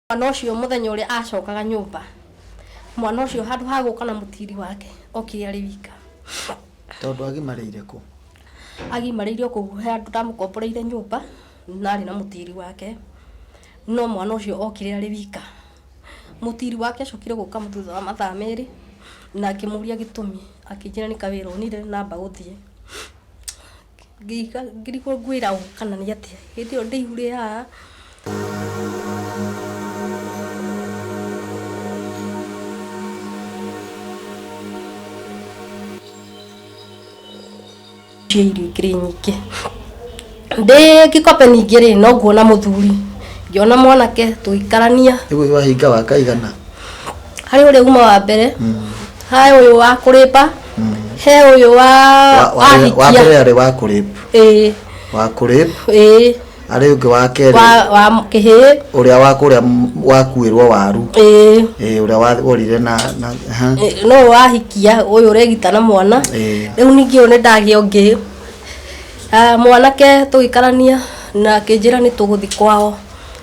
mwana ũcio mũthenya ũrĩa acokaga nyũmba mwana ũcio handũ ha gũka na mũtiri wake okire arĩ wika tondũ agimarĩire kũ agimarĩire kũu he andũ ndamũkomboreire nyũmba na arĩ na mũtiri wake no mwana ũcio okire arĩ wika mũtiri wake acokire gũka thutha wa mathaa merĩ na akĩmũria gĩtũmi akĩnjĩra nĩ kawĩra onire namba gũthiĩ Ngĩrigwo ngwĩra ũũ kana nĩ atĩa, hĩndĩ ĩyo ndĩihũire haha. Cia irio ikĩrĩ nyingĩ. Ndĩ Gĩkombe ningĩ rĩ, no nguona mũthuri, ngĩona mwanake tũgĩkarania. Nĩguo wahinga wa kaigana? Harĩ ũrĩa uma wa mbere. he uyu wa kuripa he uyu wa Wa- wa- wa ahikia mbere arĩ wa kũrĩp ĩĩ wa kũrĩp ĩĩ arĩ ũngĩ wa kerĩ wa wa kĩhĩ ũrĩa wa kũrĩa m- wakuĩrwo waru ĩĩ Eh, ũrĩa warire na na- aha. Ĩ, no wahikia uyu uregita na mwana Ĩĩ. riu ningi uyu nindagia ungi Ah, mwanake tugikarania na kinjira ni tuguthi kwao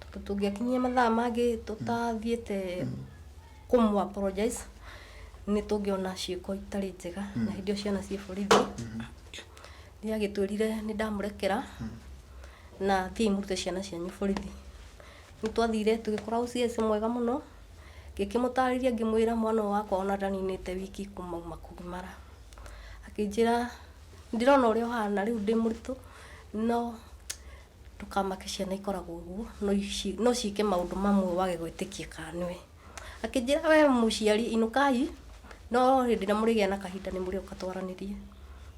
tondũ tũngĩakinyia mathaa mangĩ tũtathiĩte kũmũ apologize nĩ tũngĩona ciĩko itarĩ njega na hĩndĩ ĩyo ciana ciĩ borithi nĩ agĩtwĩrire nĩ ndamũrekera na thiĩ mũrute ciana cianyu borithi nĩ twathire tũgĩkora OCS mwega mũno ngĩkĩmũtarĩria ngĩmwĩra mwana ũyũ wakwa ona ndaninĩte wiki kuma auma kũgimara akĩnjĩra ndĩrona ũrĩa ũhana rĩu ndĩ mũritũ no Ndũkamake ciana ikoragwo ũguo no ici no ciĩke maũndũ mamwe wage gwĩtĩkia kana nĩwe. Akĩnjĩra we mũciari inũkai no hĩndĩ ĩrĩa mũrĩgĩa na kahinda nĩ mũrĩũka twaranĩrie.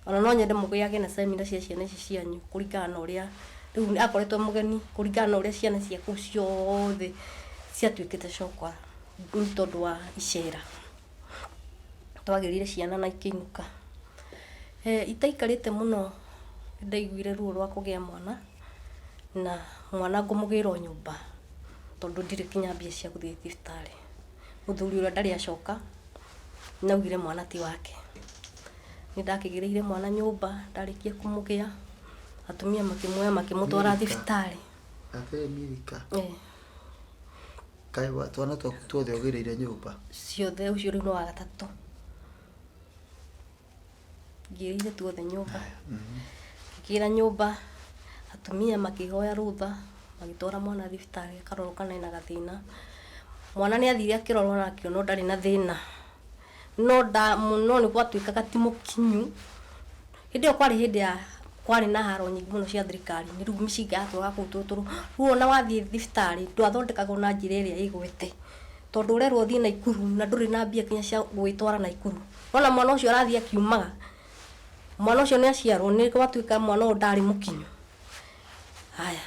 Ona no nyende mũgĩage na seminar cia ciana ici cianyu kũringana na ũrĩa rĩu akoretwo e mũgeni kũringana na ũrĩa ciana cia kũu ciothe ciatuĩkĩte cokora nĩ tondũ wa icera. twagĩrire ciana na ikĩinũka. Itaikarĩte mũno nĩ ndaiguire ruo rwa kũgĩa mwana na mwana ngũmũgĩra o nyũmba tondũ ndirĩ nginya mbia cia gũthiĩ thibitarĩ. Mũthuri ũrĩa ndarĩ acoka nĩ augire mwana ti wake. Nĩ ndakĩgĩrĩire mwana nyũmba ndarĩkia kũmũgĩa, atumia makĩmuoya makĩmũtwara thibitarĩ. Kaĩ wa- twana twaku tuothe ũgĩrĩire nyũmba? ciothe ũcio rĩu nĩ wa gatatũ ngĩrĩire tuothe nyũmba ngĩra nyũmba atumia makĩhoya rũtha magĩtwara mwana thibitarĩ akarorwo kana ena gathĩna mwana nĩ athire akĩrorwo na akĩonwo ndarĩ na thĩna no nda mũno nĩ gwatuĩkaga ti mũkinyu. Hĩndĩ ĩyo kwarĩ hĩndĩ ya kwarĩ na haro nyingĩ mũno cia thirikari, nĩ rĩu mĩcinga yatũraga kũu tũtũrũ. Rĩu ona wathiĩ thibitarĩ ndwathondekagwo na njĩra ĩrĩa ĩgwete, tondũ ũrerwo ũthiĩ Naikuru na ndũrĩ na mbia nginya cia gũgĩtwara Naikuru. Wona mwana ũcio arathiĩ akiumaga, mwana ũcio nĩ aciarwo nĩ gwatuĩka mwana ũyũ ndarĩ mũkinyu. Haya,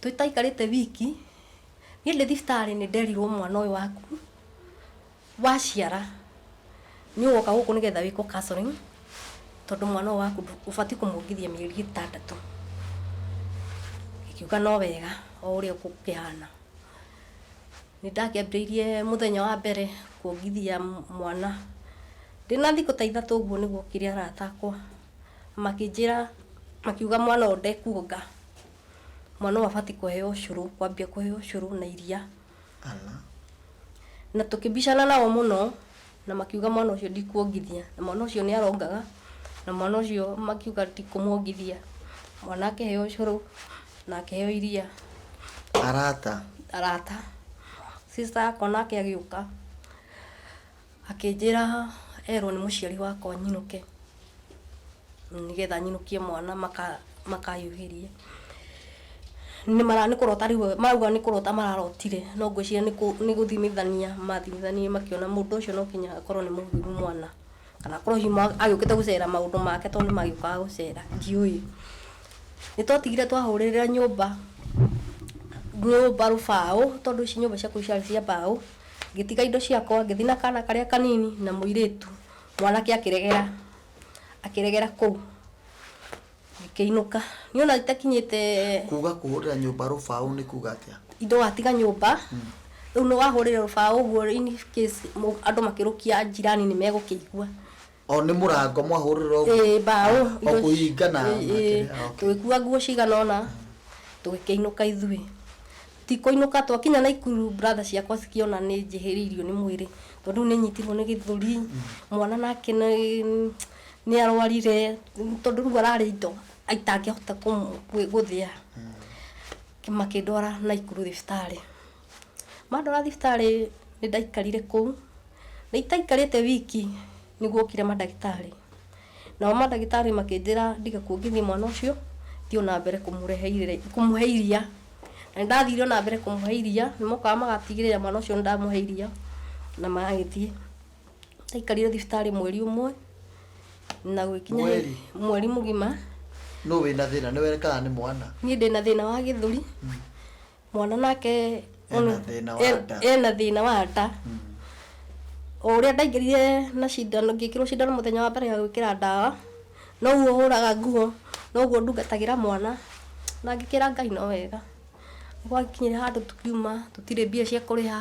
tũtaikarĩte wiki, Niĩ ndĩ thibitarĩ nĩ nderirwo mwana ũyũ waku waciara nĩ ũgoka gũkũ nĩ getha wĩkwo counselling tondũ mwana ũyũ waku ũbatiĩ kũmwongithia mĩeri ĩtandatũ. Akiuga no wega o ũrĩa gũkĩhana. Nĩ ndakĩambĩrĩirie mũthenya wa mbere kuongithia mwana ndĩ na thikũ ta ithatũ ũguo nĩ guokire arata akwa makĩnjĩra makiuga mwana ũyũ ndekuonga. mwana ũyũ abatiĩ kũheo ũcũrũ, kwambia kũheo ũcũrũ na iria. Ala. Na tũkĩbicana nao mũno, na makiuga mwana ũcio ndikuongithia, na mwana ũcio nĩ arongaga, na mwana ũcio makiuga ti kũmwongithia. Mwana akĩheo ũcũrũ, na akĩheo iria. Arata. Arata. Sister akwa nake agĩũka. Akĩnjĩra erwo nĩ mũciari wakwa nyinũke nĩgetha nyinũkie mwana makahiũhĩrie. Nĩ kũrota rĩu marauga nĩ kũrota mararotire no ngwĩciria nĩ gũthimithania mathimithanirie makĩona mũndũ ũcio no nginya akorwo nĩ mũthuuri mwana kana akorwo hihi agĩũkĩte gũcera maũndũ make tondũ nĩ magĩũkaga gũcera ndiũĩ. Nĩ twatigire twahũrĩrĩra nyũmba rũbaũ tondũ ici nyũmba ciakwa ciarĩ cia mbaũ. Ngĩtiga indo ciakwa, ngĩthiĩ na kaana karĩa kanini na mũirĩtu, mwanake akĩregera, akĩregera kũu. Ngĩkĩinũka. Niĩ ona itakinyĩte... Kuuga kũhũrĩra nyũmba rũbaũ nĩ kuuga atĩa? Indo watiga nyũmba, rĩu nĩ wahũrĩra rũbaũ ũguo in case andũ makĩrũkia njirani nĩ megũkĩigua. o nĩ mũrango mwahũrĩra ũguo Ĩĩ, mbaũ o indo ici. kũhinga na Ĩĩ, na ĩĩ. kĩrĩa, ah, okay. tũgĩkua nguo cigana ũna tũgĩkĩinũka ithuĩ ti kũinũka twakinya naikuru brother ciakwa cikĩona nĩ njĩhĩrĩirio nĩ mwĩrĩ tondũ rĩu nĩ nyitirwo nĩ gĩthũri mwana nake nĩ- nĩ arwarire tondũ rĩu ararĩ indo itangĩhota kũmũ- gwĩ- gũthĩa makĩndwara naikuru thibitarĩ Mandwara thibitarĩ nĩ ndaikarire kũu, na itaikarĩte wiki nĩ guokire mandagĩtarĩ. Nao mandagĩtarĩ makĩnjĩra ndige kuongithia mwana ũcio, thiĩ o na mbere kũmũrehe iria, kũmũhe iria. Na nĩ ndathire o na mbere kũmũhe iria, nĩ mokaga magatigĩrĩra mwana ũcio nĩ ndamũhe iria na magagĩthiĩ. Ndaikarire thibitarĩ mweri ũmwe na gũgĩkinya rĩrĩa, Mweri? mweri mũgima. Nũ wĩna thĩna, nĩwe kana nĩ mwana? Niĩ ndĩna thĩna wa gĩthũri, mwana nake Ena ũnũ- thĩna wa e- nda. ena thĩna wa nda o ũrĩa ndaingĩrire na cindano ngĩkĩrwo cindano mũthenya wa mbere ya gwĩkĩra ndawa noguo hũraga nguo noguo ndungatagĩra mwana na ngĩkĩra ngai no wega gwakinyire handũ tũkiuma tũtirĩ mbia cia kũrĩha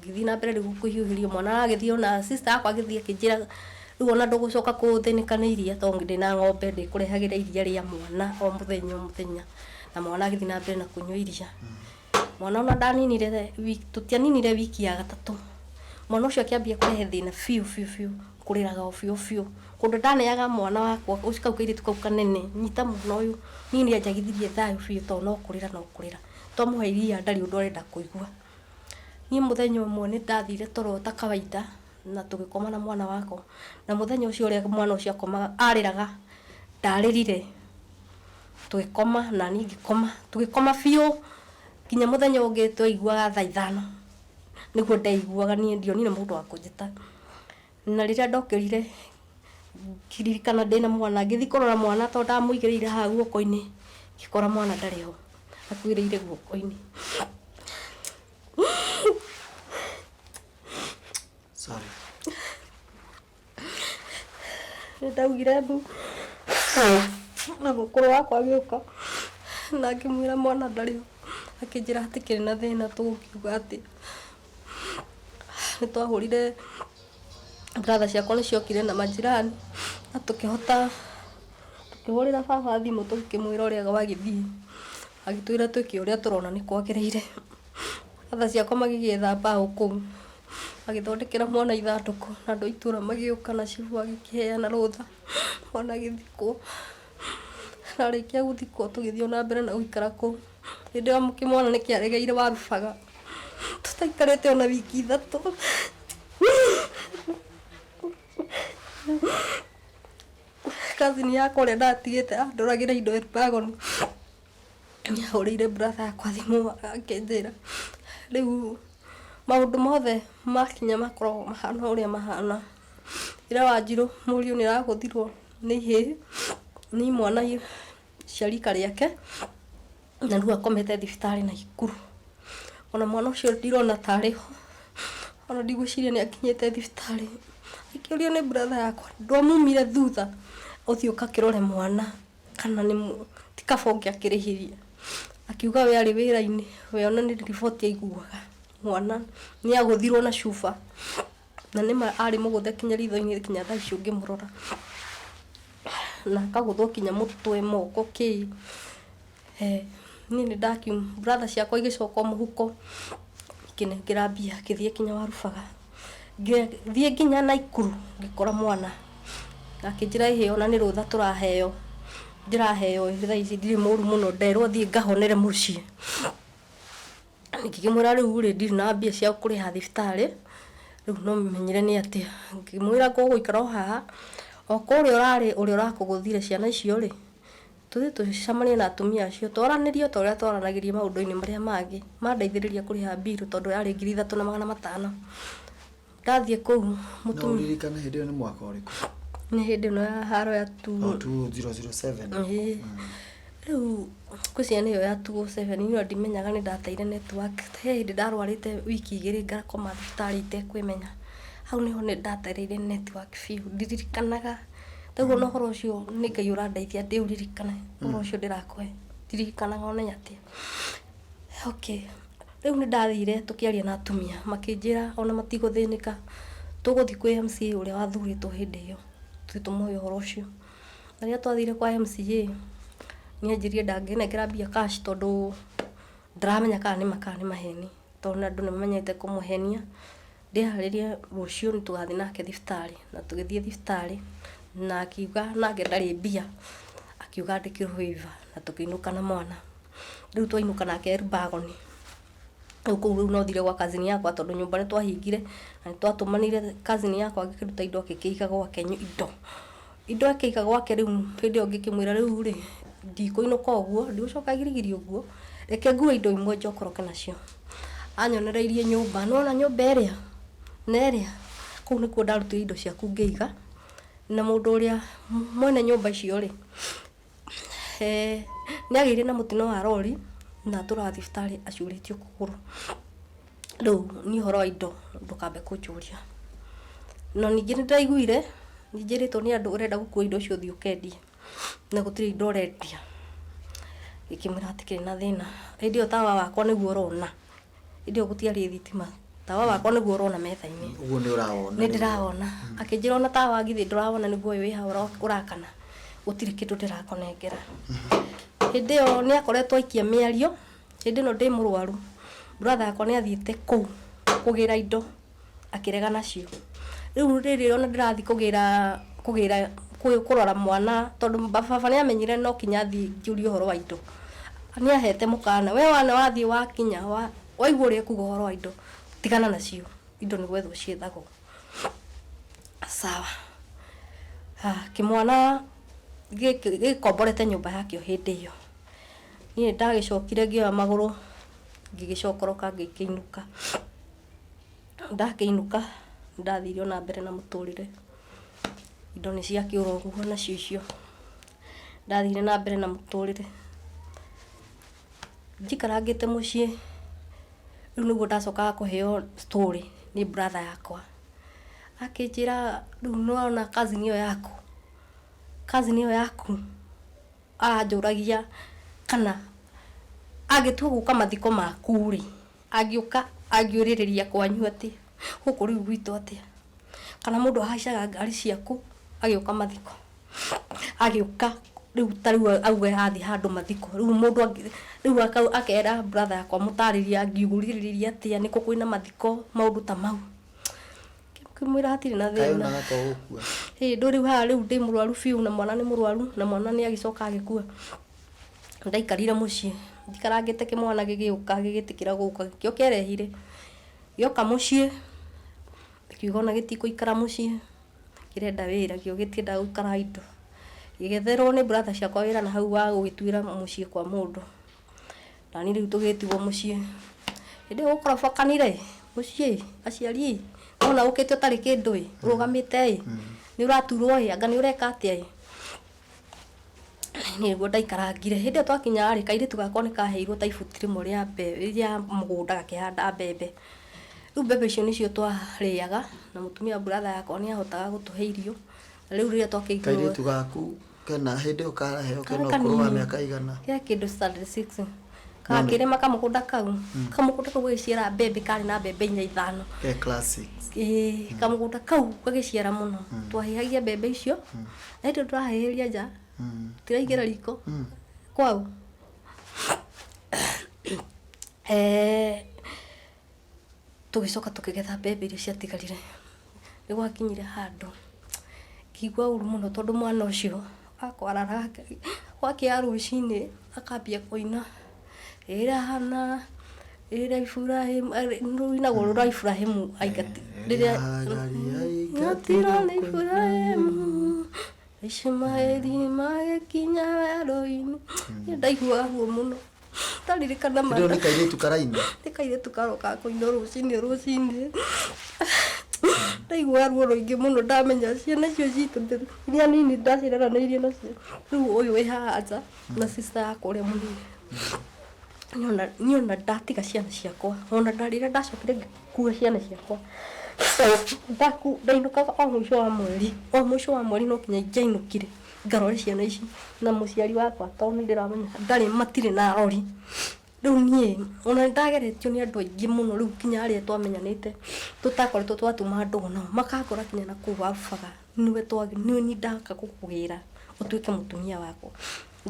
ngĩthiĩ na mbere rĩu kũhiũhĩrio mwana agĩthiĩ ona sister yakwa agĩthiĩ akĩnjĩra rĩu ona ndũgũcoka kũthĩnĩka nĩ iria tondũ ndĩ na ng'ombe ndĩkũrehagĩra iria rĩa mwana o mũthenya o mũthenya na mwana agĩthiĩ na mbere na kũnyua iria mwana ona ndaninire the- wi- tũtianinire wiki ya gatatũ mwana ũcio akĩambia kũrehe thĩna biũ biũ biũ kũrĩraga o biũ biũ kũndũ ndaneaga mwana wakwa ũcio kau kairĩtu kau kanene nyita mwana ũyũ niĩ nĩanjagithirie thayũ biũ tondũ no kũrĩra no kũrĩra twamũhe iria ndarĩ ũndũ arenda kũigua Niĩ mũthenya ũmwe nĩ ndathire toro ta kawaida na tũgĩkoma na mwana wakwa, na mũthenya ũcio ũrĩa mwana ũcio akomaga, arĩraga, ndarĩrire, tũgĩkoma na niĩ ngĩkoma, tũgĩkoma biũ nginya mũthenya ũngĩ twaiguaga thaa ithano, nĩguo ndaiguaga niĩ, ndionire mũndũ wa kũnjĩta. Na rĩrĩa ndokĩrire ngĩririkana ndĩna mwana ngĩthiĩ kũrora mwana tondũ ndamũigĩrĩire haha guoko-inĩ ngĩkora mwana ndarĩ ho akuĩrĩire guoko-inĩ. Sorry. Nĩ ndaugire mbu na mũkũrũ wakwa agĩũka na ngĩmwĩra mwana ndarĩ ho, akĩnjĩra hatikĩrĩ na thĩna tũgũkiuga atĩa. nĩ twahũrire brother ciakwa nĩ ciokire na majirani na tũkĩhota tũkĩhũrĩra baba thimũ tũkĩmwĩra ũrĩa gwagĩthiĩ, agĩtwĩra twĩke ũrĩa tũrona nĩ kwagĩrĩire. Brother ciakwa magĩgĩetha mbaũ kũu, magĩthondekera mwana ithandũkũ na andũ a itũũra magĩũka na cibũ agĩkĩheana rũtha mwana agĩthikwo. Arĩkia gũthikwo tũgĩthiĩ o na mbere na gũikara kũu. Hĩndĩ ĩyo kĩmwana nĩ kĩaregeire warubaga. Tũtaikarĩte o na wiki ithatũ. Cousin yakwa ũrĩa ndatigĩte andwaragĩra indo Elbagon nĩ ahũrĩire brother yakwa thimũ akĩnjĩra rĩu maũndũ mothe makinya makoragwo mahana ũrĩa mahana. Ira Wanjirũ mũriũ nĩ arahũthirwo nĩ ihĩĩ nĩ imwana i- cia rika rĩake na rĩu akomete thibitarĩ na ikuru ona mwana ũcio ndirona tarĩ ho ona ndigwĩciria nĩ akinyĩte thibitarĩ akĩũrio nĩ brother yakwa ndwamumire thutha ũthiĩ ũkakĩrore mwana kana nĩ mũ- ti kaba ũngĩakĩrĩhirie akiuga we arĩ wĩra-inĩ we ona nĩ riboti aiguaga mwana nĩ agũthirwo na cuba Na nĩ ma arĩ mũgũthe kinya ritho-inĩ kinya thaa ici ũngĩmũrora. Na akagũthwo kinya mũtwe, moko, kĩ. Eeh. Niĩ nĩ ndakiuma, brother ciakwa igĩcoka o mũhuko, ikĩnengera mbia ngĩthiĩ kinya Warubaga. Ngĩthiĩ kinya Naikuru, ngĩkora mwana. Akĩnjĩra ĩhĩ ona nĩ rũtha tũraheo, ndĩraheo ĩĩ thaa ici ndirĩ mũũru mũno, nderwo thiĩ ngahonere mũciĩ. ngĩkĩmwĩra rĩu rĩ ndirĩ na mbia cia kũrĩha thibitarĩ, rĩu no menyire nĩ atĩa. Ngĩmwĩra ngũgũikara o haha, o kũrĩa ũrarĩ ũrĩa ũrakũgũthire ciana icio rĩ, tũthiĩ tũcemanie na atumia acio twaranĩrie o ta ũrĩa twaranagĩria maũndũ-inĩ marĩa mangĩ. Mandeithĩrĩria kũrĩha bill tondũ yarĩ ngiri ithatũ na magana matano. Ndathiĩ kũu No mũtumia ũririkane hĩndĩ ĩyo nĩ mwaka ũrĩkũ? nĩ hĩndĩ ĩno ya haro ya tuo Oh, 2007. Ĩĩ. rĩu ngwĩciria nĩyo ya tuo seven niyo ndimenyaga nĩ ndateire network he hĩndĩ ndarwarĩte wiki igĩrĩ ngakoma thibitarĩ itekwĩmenya hau nĩho nĩ ndatereire network biũ ndiririkanaga taguo na ũhoro ũcio nĩ ngai ũrandeithia ndĩũririkane ũhoro ũcio ndĩrakũhe ndiririkanaga onenya atĩa okay Rĩu nĩ ndathire tũkĩaria na atumia, makĩnjĩra o na matigũthĩnĩka, tũgũthiĩ kwĩ MCA ũrĩa wathurĩtwo hĩndĩ ĩyo, tũthiĩ tũmũũrie ũhoro ũcio. Na rĩrĩa twathire kwa MCA, nĩ anjĩrire ndangĩnengera mbia cash tondũ ndaramenya kana nĩ ma kana nĩ maheni, tondũ andũ nĩ mamenyete kũmũhenia. Ndĩharĩrie rũciũ nĩ tũgathiĩ nake thibitarĩ, na tũgĩthiĩ thibitarĩ, na akiuga nake ndarĩ mbia, akiuga andĩkĩrwo waiver na tũkĩinũka na mwana. Rĩu twainũka nake e rubagoni, rĩu kũu rĩu no thiire gwa cousin yakwa tondũ nyũmba nĩ twahingire, na nĩ twatũmanire cousin yakwa agĩkĩruta indo agĩkĩiga gwake indo. Indo akĩiga gwake rĩu hĩndĩ ĩyo ngĩkĩmwĩra rĩu rĩ, ndikũinũka ũguo, ndigũcoka girigiri ũguo, reke ngue indo imwe njokoroke nacio. Anyonereirie nyũmba, nĩwona nyũmba ĩrĩa na ĩrĩa, kũu nĩkuo ndarutire indo ciaku ngĩiga, na mũndũ ũrĩa mwene nyũmba icio rĩ, Eeh nĩagĩire na mũtino wa rori na atũraga thibitarĩ acurĩtio kũgũrũ. Rĩu niĩ ũhoro wa indo ndũkambe kũnjũria. No ningĩ nĩndĩraiguire njĩrĩtwo nĩ andũ ũrenda gũkua indo icio ũthiĩ ũkendie, na gũtirĩ indo ũrendia. Ngĩkĩmwĩra hatikĩrĩ na thĩna. Hĩndĩ ĩyo tawa wakwa nĩguo ũrona. Hĩndĩ ĩyo gũtiarĩ thitima. Tawa wakwa nĩguo ũrona metha-inĩ. Ũguo nĩ ũrawona. Nĩ ndĩrawona. Akĩnjĩra ona tawa githĩ ndũrawona nĩguo ũyũ wĩ haha ũrakana. Gũtirĩ kĩndũ ndĩrakũnengera. Hĩndĩ ĩyo nĩ akoretwo aikia mĩario. Hĩndĩ ĩno ndĩ mũrwaru, brother wakwa nĩ athiĩte kũu kũgĩra indo. akĩrega nacio rĩu rĩrĩ ona ndĩrathi kũgĩra kũgĩra kũ- kũrora mwana tondũ ba- baba nĩ amenyire no kinya thiĩ njũrie ũhoro wa indo nĩ ahete mũkana we wana wathiĩ wakinya wa- waigua ũrĩa ekuga ũhoro wa indo tigana nacio indo nĩ gwethwo ciethagwo sawa Ah, kĩmwana gĩkĩ gĩkomborete nyũmba yakĩo hĩndĩ ĩyo niĩ ndagĩcokire ngĩoya magũrũ ngĩgĩcokoroka ngĩkĩinũka ndakĩinũka nĩ ndathire ona mbere na mũtũrĩre indo nĩ cia kĩũra ũguo nacio icio ndathire na mbere na mũtũrĩre njikarangĩte mũciĩ rĩu nĩguo ndacokaga kũheo story nĩ brother yakwa akĩnjĩra rĩu nĩwona cousin ĩyo yaku cousin ĩyo yaku anjũragia kana agĩtua gũka mathiko maku rĩ Angĩũka angiũrĩrĩria kwanyu atĩ gũkũ rĩu gwitũ atĩa, kana mũndũ ahaicaga ngari ciaku agĩũka mathiko, agĩũka rĩu ta rĩu auge athiĩ handũ mathiko, rĩu mũndũ angĩ, rĩu aka akera brother yakwa amũtarĩrie angiũrĩrĩria atĩa nĩ kũ kwĩna mathiko, maũndũ ta mau. Ngĩmwĩra hatirĩ na Kaĩ thĩna. onaga to gũkua. Ĩĩ ndũ rĩu haha rĩu ndĩ mũrwaru biũ na mwana nĩ mũrwaru na mwana nĩ agĩcoka agĩkua. Ndaikarire mũciĩ, njikarangĩte kĩmwana gĩgĩũka gĩgĩtĩkĩra gũka, kĩo kĩarehire, gĩoka mũciĩ, kiuga ona gĩtikũikara mũciĩ, kĩrenda wĩra, kĩo gĩtiendaga gũikara idle. Ngĩgetherwo nĩ brother ciakwa wĩra na hau wa gũgĩtuĩra mũciĩ kwa mũndũ, naniĩ rĩu tũgĩtigwo mũciĩ. Hĩndĩ ĩyo gũkorobokanire ĩ, mũciĩ ĩ, aciari ĩ, wona ũkĩte ũtarĩ kĩndũ ĩ, ũrũgamĩte ĩ, nĩũraturwo ĩ, anga nĩũreka atĩa ĩ. nĩguo ndaikarangire. Hĩndĩ ĩyo twakinya rĩ, kairĩtu gakwa nĩ kaheirwo ta ibuti rĩmwe rĩa mbembe, rĩa mũgũnda gakĩhanda mbembe. Rĩu mbembe icio nĩcio twarĩaga, na mũtumia wa brother yakwa nĩ ahotaga gũtũhe irio. Na rĩu rĩrĩa twakĩiguire. Kairĩtu gaku kena hĩndĩ ĩyo karaheo kena ũkũrũ wa mĩaka ĩigana? Ke kĩndũ standard six. Gakĩrĩma kamũgũnda kau, kamũgũnda kau gagĩciara mbembe karĩ na mbembe inya ithano. Ke class six. Ĩĩ, kamũgũnda kau gagĩciara mũno. Twahĩhagia mbembe icio. Eti tũrahĩhĩria nja tiraingĩra riko kwau Eh, tũgĩcoka tũkĩgetha mbembe iria ciatigarire nĩ gwakinyire handũ ngĩigua ũru mũno tondũ mwana ũcio akwaraga gwakĩa rũcinĩ akambia kũina ĩra hana ĩra iburahimu rũinagwo rũra iburahimu aingati rĩrĩa ngatira nĩ iburahimu ishimaeli magĩkinya werũ-inĩ Nĩ ndaigua guo mũno ndaririkana Kĩndũ mata nĩ kairĩtu karaina nĩ kairĩtu karoka kũinwo rũcinĩ rũcinĩ ndaigua ruo rũingĩ mũno ndamenya ciana icio citũ iria nini ndaciaranĩirie nacio rĩu ũyũ wĩ haha nja na sister ya kũrĩa mũrĩi Niĩ ona- niĩ ona ndatiga ciana ciakwa ona nda- rĩrĩa ndacokire ngĩkua ciana ciakwa ndaku ndainũkaga o mũico wa mweri o mũico wa mweri no kinya ingĩainũkire ngarore ciana ici na mũciari wakwa tondũ nĩ ndĩramenya ndarĩ matirĩ na arori rĩu niĩ ona nĩ ndageretio nĩ andũ aingĩ mũno rĩu kinya arĩa twamenyanĩte tũtakoretwo twatuma andũ o nao makangora kinya na kũu wabubaga nĩwe twagĩ- nĩ nĩ ndaka gũkũgĩra ũtuĩke mũtumia wakwa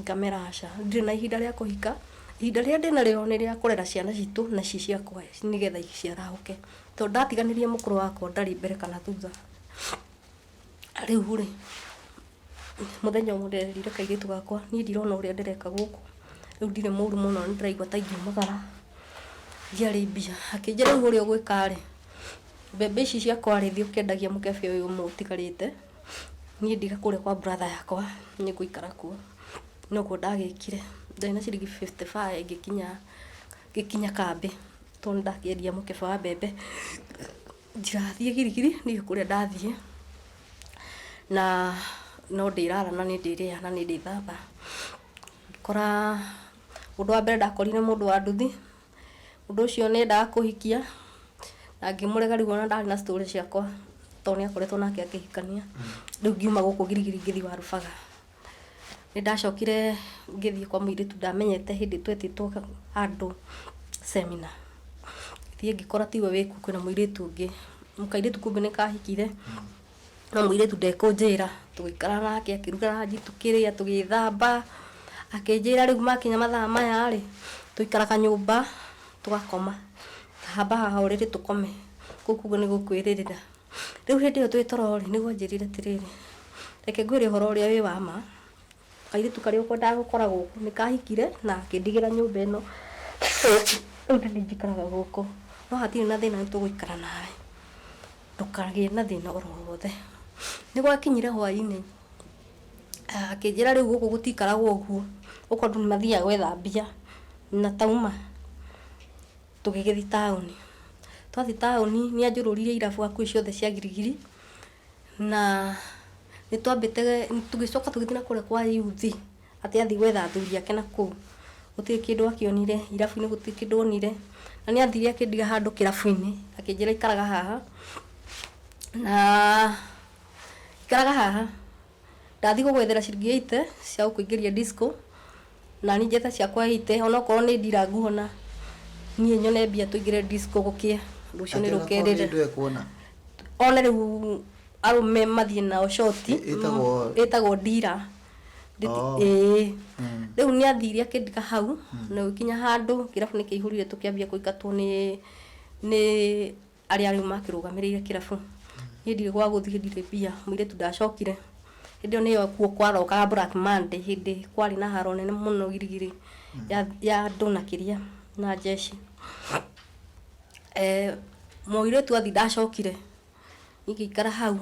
ngamera aca ndirĩ na ihinda rĩa kũhika ihinda rĩrĩa ndĩnarĩo nĩ rĩa kũrera ciana citũ na ci ciakwa nĩgetha ciarahũke tondũ ndatiganĩria mũkũrũ wakwa ndarĩ mbere kana thutha rĩu rĩ mũthenya ũmwe ndĩrerire kairĩtu gakwa niĩ ndirona ũrĩa ndĩreka gũkũ rĩu ndirĩ mũru mũno nĩndĩraigua ta ingiumagara ndiarĩ mbia akĩnjĩra rĩu ũrĩa ũgwĩka rĩ Mbembe ici ciakwa rĩ thiĩ ũkendagie mũkebe ũyũ ũmwe ũtigarĩte, niĩ ndige kũrĩa kwa brother yakwa nĩ ngũikara kuo. Nĩ ũguo ndagĩkire. Ndarĩ na ciringi fifty five ngĩkinya kambĩ tondũ nĩ ndakĩendia mũkebe wa mbembe ndigathiĩ girigiri ndirĩ kũrĩa ndathiĩ. Na no ndĩrara na nĩ ndĩrĩaga na nĩ ndĩthamba. Ngĩkora, ũndũ wa mbere ndakorire mũndũ wa nduthi. Ũndũ ũcio nĩ endaga kũhikia na ngĩmũrega rĩu ona ndarĩ na story ciakwa tondũ nĩ akoretwo nake akĩhikania. Rĩu ngiuma gũkũ girigiri ngĩthiĩ Warubaga. Nĩ ndacokire ngĩthiĩ kwa mũirĩtu ndamenyete hĩndĩ twetĩtwo handũ seminar. Ngĩthiĩ ngĩkora tiwe wĩ kuo kwĩna mũirĩtu ũngĩ. Kairĩtu kumbe nĩ kahikire. na mũirĩtu ndekũnjĩra tũgĩikara nake akĩruga ranji tũkĩrĩa tũgĩthamba akĩnjĩra rĩu makinya mathaa maya rĩ tũikara kanyũmba tũgakoma haba haha ũrĩrĩ tũkome kũu kuga nĩ gũkwĩrĩrĩra rĩu hĩndĩ ĩyo twĩ toro rĩ nĩguo anjĩrire atĩrĩrĩ reke ngwĩre ũhoro ũrĩa wĩ wa ma kairĩtu karĩa ũkwendaga gũkora gũkũ nĩ kahikire na akĩndigĩra nyũmba ĩno rĩu nĩ niĩ njikaraga gũkũ no hatirĩ na thĩna nĩ tũgũikara nawe Ndũkagĩe na thĩna o ro wothe. Nĩ gwakinyire hwaĩ-inĩ, akĩnjĩra rĩu gũkũ gũtiikaragwo ũguo, gũkũ andũ nĩ mathiaga gwetha mbia. Na twauma, tũgĩgĩthiĩ taũni. Twathiĩ taũni, nĩ anjũrũririe irabu hakuhĩ ciothe cia girigiri, na nĩ twambĩte, tũgĩcoka tũgĩthiĩ na kũrĩa kwa yuthi. Atĩ athiĩ gwetha athuri ake na kũu. Gũtirĩ kĩndũ akĩonire, irabu-inĩ gũtirĩ kĩndũ onire. Na nĩ athire akĩndiga handũ kĩrabu-inĩ, akĩnjĩra ikaraga haha, na ikaraga haha. Ndathiĩ gũgwethera ciringi ĩite cia gũkũingĩria disco, na niĩ njete ciakwa ĩite, o na okorwo nĩ ndira nguona, niĩ nyone mbia tũingĩre disco gũkĩe, ũndũ ũcio nĩ rũkĩrĩre. One rĩu arũme mathiĩ nao shoti, ĩtagwo ndira. Ndĩti- Oh. ĩĩ Mm. rĩu nĩ athire akĩndiga hau na gũkinya handũ kĩrabu nĩ kĩihũrire tũkĩambia kũingatwo nĩ nĩ arĩa rĩu makĩrũgamĩrĩire kĩrabu niĩ ndirĩ gwa gũthiĩ ndirĩ mbia mũirĩtu ndacokire hĩndĩ ĩyo nĩyo kuo kwarokaga black monday hĩndĩ kwarĩ na haro nene mũno girigiri ya- ya andũ na kĩria na jeshi Eh, mũirĩtu athi ndacokire Niĩ ngĩikara hau,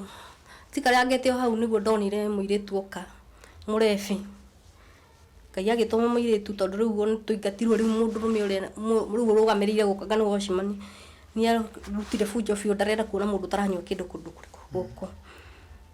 njikarangĩte o hau nĩguo ndonire mũirĩtu oka, mũrebĩ. Ngai agĩtũma mũirĩtu tondũ rĩu ona twaingatirwo rĩu mũndũrũme ũrĩa rĩu ũrũgamĩrĩire gũka kana watchman, nĩarutire bunjo biũ ndarenda kuona mũndũ ũtaranyua kĩndũ kũndũ gũkũ.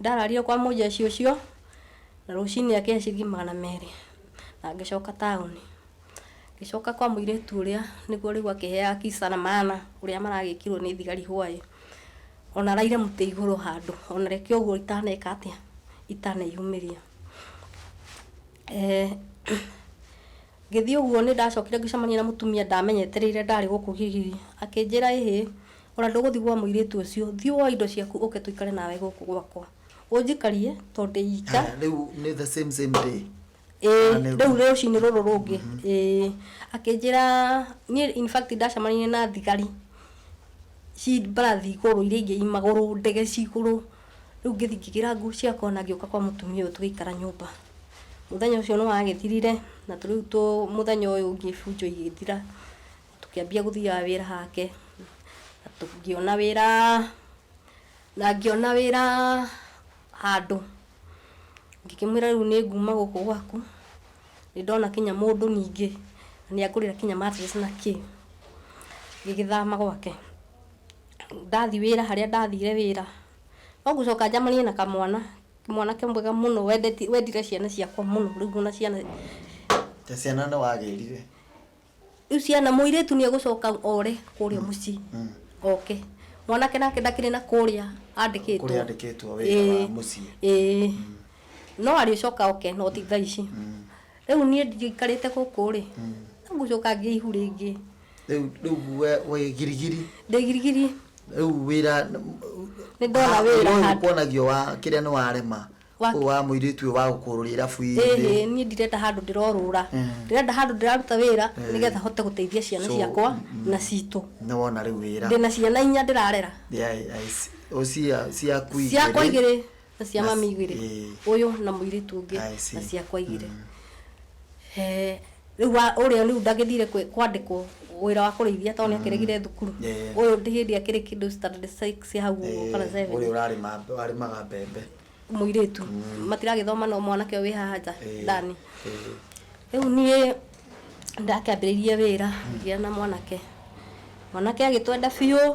Ndarario kwa mũjeshi ũcio, na rũcinĩ akĩhe ciringi magana merĩ, na ngĩcoka taũni. Ngĩcoka kwa mũirĩtu ũrĩa nĩguo rĩu akĩheaga kisa na maana ũrĩa maragĩkirwo nĩ thigari hwaĩ. Ona araire mũtĩ igũrũ handũ, ona reke ũguo itaneka atĩa, itaneyumĩria. Ngĩthiĩ ũguo nĩ ndacokire ngĩcemania na mũtumia ndaamenyetereire ndarĩ gũkũ Kĩgiri. Akĩnjĩra, 'Ĩhĩ, o na ndũgũthiĩ gwa mũirĩtu ũcio. Thiĩ woe indo ciaku ũke tũikare nawe gũkũ gwakwa. Ũnjikarie tondũ ndĩ ika. Haya, rĩu nĩ the same same day? Ĩĩ, Kana nĩ rĩu rũciinĩ? rũcinĩ rũrũ rũngĩ. Ĩĩ. Akĩnjĩra, niĩ in fact ndacemanirie na thigari ci mbarathi igũrũ iria ingĩ i magũrũ, ndege ci igũrũ, Rĩu ngĩthiĩ ngĩgĩra nguo ciakwa na ngĩũka kwa mũtumia ũyũ tũgĩikara nyũmba. Mũthenya ũcio nĩ wagĩthirire na rĩu mũthenya ũyũ ũngĩ bunjo igĩthira, tũkĩambia gũthiaga wĩra hake, na ngĩona wĩra, na ngĩona wĩra handũ. Ngĩkĩmwĩra rĩu nĩ nguma gũkũ gwaku, nĩ ndona nginya mũndũ ningĩ, nĩ angũrĩra nginya mattress na kĩ, ngĩgĩthama gwake. ndathi wĩra harĩa ndathire wĩra, no gũcoka njamanie na kamwana, mwanake mwega mũno wendeti wendire ciana ciakwa mũno rĩu ona ciana Ta ciana nĩ wagĩrire. rĩu ciana mũirĩtu nĩ egũcoka ore kũrĩa mũciĩ Mm. oke mwanake nake ndakĩrĩ na kũrĩa andĩkĩtwo Kũrĩa andĩkĩtwo wĩra wa Ĩĩ, mũciĩ. ĩĩ. no arĩcoka oke no ti thaa ici Mm. rĩu niĩ ndikarĩte gũkũ rĩ Mm. no gũcoka ngĩihu rĩngĩ rĩu rĩu we we girigiri ndĩ girigiri rĩu wĩra nĩ ndona Ah, wĩra ũyũ handũ kuonagio wa kĩrĩa nĩ warema Wa- ũyũ wa mũirĩtu ũyũ wa gũkũrũria irabu ĩhĩ inĩ niĩ ndirenda handũ ndĩrorũra Mm. ndĩrenda handũ ndĩraruta wĩra Eh. nĩgetha hote gũteithia ciana So, ciakwa mm. na citũ nĩ wona rĩu wĩra ndĩna ciana inya ndĩrarera Yeah, I- I see. O cia- ciaku igĩrĩ. ciakwa igĩrĩ na cia Na- mami igĩrĩ ĩĩ. ũyũ na mũirĩtu ũngĩ I see. na ciakwa igĩrĩ Eh, rĩu wa- ũrĩa rĩu ndagĩthire kwĩ- kwandĩkwo wĩra wa kũrĩithia tondũ nĩakĩregire thukuru Yeah. ũyũ ndĩ hĩndĩ akĩrĩ kĩndũ standard six ya hau ũguo kana Eh, seven ũrĩa ũrarĩma warĩmaga mbembe mũirĩtu matiragĩthoma no mwanake ũyũ wĩ haha nja Eh, ndani eh, rĩu niĩ ndakĩambĩrĩirie wĩra ngĩa na mwanake mwanake agĩtwenda biũ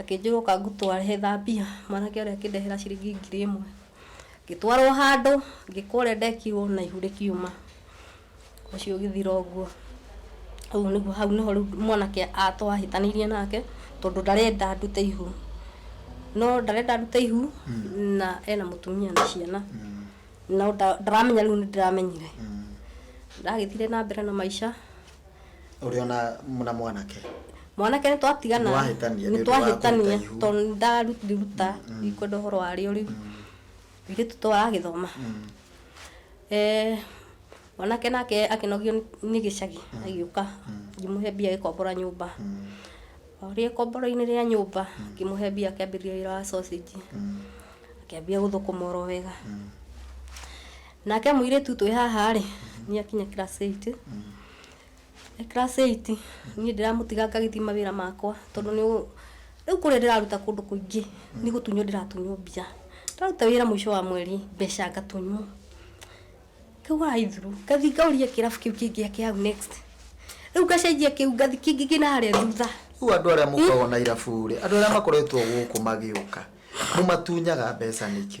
Akĩnjĩra ũka ngũtware thambia, mwanake ũrĩa akĩndehera ciringi ngiri ĩmwe. Ngĩtwarwo handũ, ngĩkwo ũrĩa ndekirwo na ihu rĩkiuma. Ũcio ũgĩthira ũguo. Ũguo nĩguo hau nĩho rĩu mwanake a- twahĩtanĩirie nake, tondũ ndarenda ndute ihu. No ndarenda ndute ihu, na ena mũtumia na ciana. No nda- ndaramenya rĩu nĩndĩramenyire. Ndagĩthire na mbere na maica. ũrĩ ona na mwanake mwanake nĩ twatigana Nĩwahĩtania nĩ nĩ ũndũ wa twahĩtania kũruta ihu. tondũ nĩ ndaruta ikwenda ũhoro warĩo rĩu airĩtu to aragĩthoma Eh, mwanake nake akĩnogio nĩ- nĩ gĩcagi agĩũka ngĩmũhe mbia agĩkombora nyũmba orĩe komboro-inĩ rĩa nyũmba ngĩmũhe mbia akĩambĩrĩria wĩra wa sausage akĩambia gũthũkũma oro wega nake mũirĩtu twĩ haha rĩ nĩ akinya class 8 e class 8 niĩ ndĩramũtiga ngagĩthiĩ mawĩra makwa tondũ nĩ ũ- rĩu kũrĩa ndĩraruta kũndũ kũingĩ nĩ gũtunywo ndĩratunywo mbia ndaruta wĩra mũico wa mweri mbeca ngatunywo rĩu waithuru ngathi ngauria kĩrabu kĩu kĩngĩ gĩake hau next rĩu ngacenjia kĩu ngathi kĩngĩ kĩ na harĩa thutha rĩu andũ arĩa mũkoragwo na irabu-rĩ andũ arĩa makoretwo gũkũ magĩũka mũmatunyaga mbeca nĩkĩ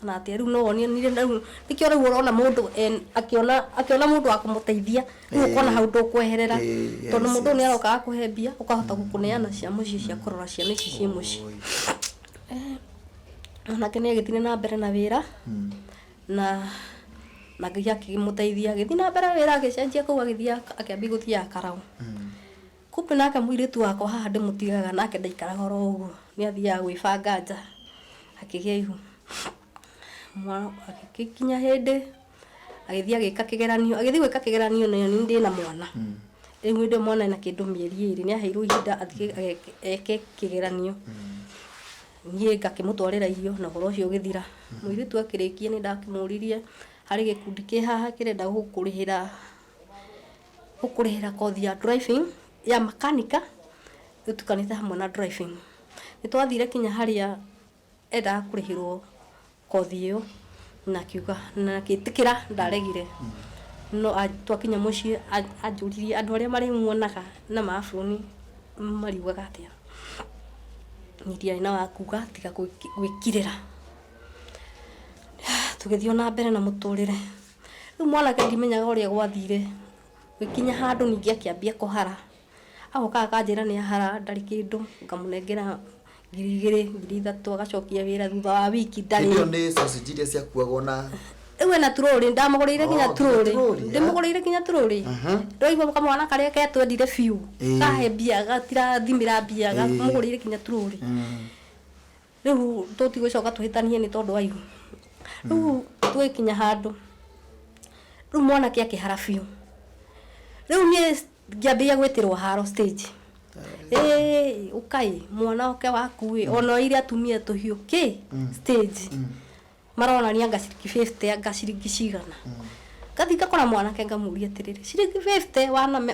Kana atĩa rĩu no wonie nire rĩu nĩkĩo rĩu ũrona mũndũ en- akĩona akĩona mũndũ wa kũmũteithia rĩu ũkona Ĩĩ. hau ndũkweherera Ĩĩ, tondũ yes, mũndũ ũyũ yes. nĩaroka agakũhe mbia ũkahota gũkũneana cia mũciĩ cia kũrora ciana ici ciĩ mũciĩ Oi. mwanake nĩ agĩthire na mbere na wĩra na na ngai akĩmũteithia agĩthiĩ na mbere wĩra agĩcenjia kũu agĩthiaga akĩambia gũthiaga karaũ Kumbe nake mũirĩtu wakwa haha ndĩmũtigaga nake ndaikaraga oro ũguo, nĩ athiaga gwĩbanga nja akĩgĩa ihu. Gũgĩkinya hĩndĩ agĩthiĩ agĩka kĩgeranio, agĩthiĩ gwĩka kĩgeranio nĩ niĩ ndĩna mwana, rĩu hĩndĩ ĩyo mwana ena kĩndũ mĩeri ĩrĩ, nĩ aheirwo ihinda athiĩ eke kĩgeranio, niĩ ngakĩmũtwarĩra irio na ũhoro ũcio ũgĩthira. Mũirĩtu akĩrĩkia nĩ ndakĩmũririe harĩ gĩkundi kĩ haha kĩrenda gũkũrĩhĩra. Gũkũrĩhĩra kothi ya driving, ya makanika ĩtukanĩte hamwe na driving. Nĩ twathire kinya harĩa endaga kũrĩhĩrwo kothi ĩyo na akiuga na agĩtĩkĩra ndaregire. No twakinya mũciĩ anjũririe andũ arĩa marĩmuonaga na ma bũrũri mariugaga atĩa. Niĩ ndiarĩ na wa kuuga tiga gwĩkirĩra. Tũgĩthiĩ o na mbere na mũtũrĩre. Rĩu mwanake ndimenyaga ũrĩa gwathire, ngĩkinya handũ ningĩ akĩambia kũhara. Agoka akanjĩra nĩ ahara ndarĩ kĩndũ, ngamũnengera ngiri igĩrĩ, ngiri ithatũ, agacokia wĩra thutha wa wiki ndarĩ. Hĩndĩ ĩyo nĩ sausage iria ciakuagwo na Rĩu ena turũrĩ, ndamũgũrĩire nginya Oh, nginya turũrĩ. turũrĩ, eh? Ndĩmũgũrĩire nginya turũrĩ. Aha. Ndwaigua kamwana karĩa ketwendire biũ, Ĩĩ. kahe mbia, gatirathimĩra mbia, Ĩĩ. ngamũgũrĩire nginya turũrĩ. Rĩu tũtigũcoka tũhĩtanie nĩ tondũ wa ihu. Rĩu tũgĩkinya handũ, rĩu mwanake akĩhara biũ. Rĩu niĩ ngĩambĩrĩria gwĩtĩrwo haro stage. Ĩĩ, ũka ĩ, mwana oke waku ĩ, ona oire atumia tũhiũ kĩ stage. maronania anga ciringi bĩbute anga ciringi cigana ngathiĩ ngakora mwanake ngamũria atĩrĩrĩ ciringi bĩbute